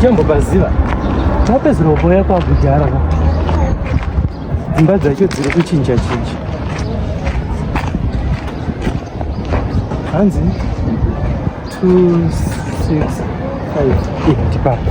uchambo paziva tapedzera kuuya kwakudhara ka dzimba dzacho dziri kuchinja chinja hanzi 265 ipapo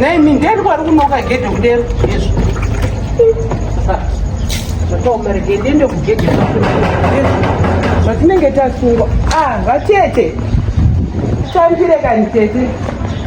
nemi nderi kwari kunoka gedhe kudero izvo zvataumere gedhe ndekugedhe zvatinenge tasungwa ah vatete shandire kani tete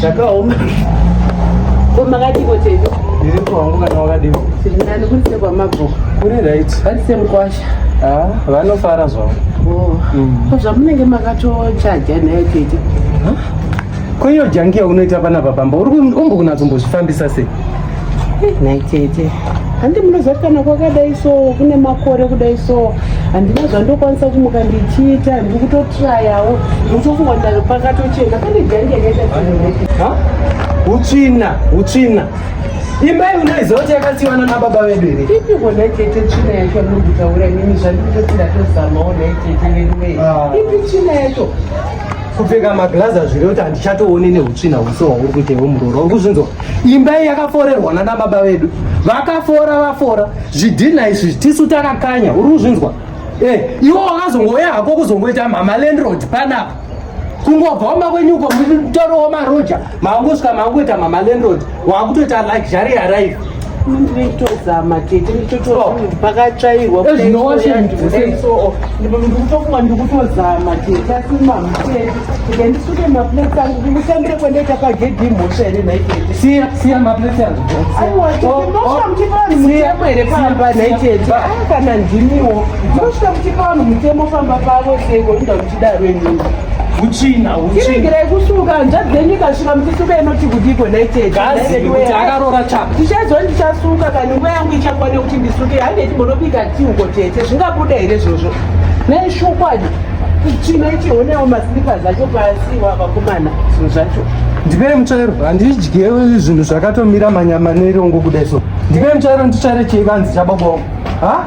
zvakaoma ko makadiko tedu ndiri kwangu kana wakadiko tiri nani kuri sekwamabhuku kuri right vari semukwasha ah, vanofara zvavo oh. mm. ko zvamunenge makatochaja nayo tete ko iyo jangiya unoita panapa pamba uri kumbokunatsombozvifambisa sei nhai tete handi munoziva kuti kana kwakadai so kune makore kudai so handina zvandokwanisa kumuka ndichiita handiri kutotrayawo ndikutofunga ndari pakatochena pane jangi yakaita utsvina utsvina imba iyi unoiziva kuti yakasiwana nababa vedu here ipi kona tete tsvina yacho muri kutaura nini zvandikutoti ndatozamawo nhai tete veduwei ah. ipi tsvina yacho kupfeka maglazi azviri kuti handichatoone neutsvina huse hwauri kuita iwe muroora uri kuzvinzwa imba iyi yakaforerwa nana baba vedu vakafora vafora zvidhinha izvi tisu takakanya uri kuzvinzwa eh, iwo wakazongouya hako kuzongoita mhama landrod panapa kungobva wamba kwenyuko mutorowo maroja maangosvika maangoita mhama landrod waakutoita luxury arrive nditozama tete nditotoakatyairwa oh. ndikutofunga ndikutozama tete asi mamutete ike ndisuke maplate angu kumushandire kwendaita pagedhi imhosva here nhaitete siya siya maplate angu aiwaosvika muchipa vanhu mutemo here pamba nhaitete kana ndimiwo mosvika muchipa vanhu mutemo pamba pavo seiko inda Daro inini hutsvina hutsvina kusuka hanzvadzi dzenyu ikasvika muchisuka inoti kudiko ndaitedzakuti akarora chapa tichaizo ndichasuka kana nguva yangu ichakwane kuti ndisuke hange timbonobika ti uko tete zvingabuda here zvozvo neshokwadi kutsvina ichionewo maslipas acho pasi wavakomana zvinhu zvacho ndipere mutsvairo handidye zvinhu zvakatomira manyama nerongo kudai so ndipere mutsvairo nditsvaire cheivanzi chababa wangu ha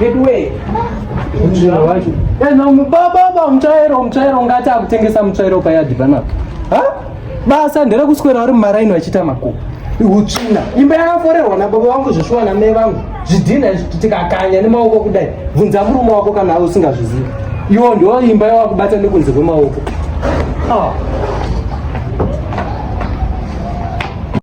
veduwee mutsvairo wacho baba mutsvairo mutsvairo ungati akutengesa mutsvairo payadhi panapo basa nderekuswera vari mumaraini vachita makuva utsvina imba yakaforerwa nababa vangu zveshuwa namai vangu zvidhinha tikakanya nemaoko kudai bvunza murume wako kana ave usingazvizivi iwo ndo imba yawakubata nekunze kwemaoko ah.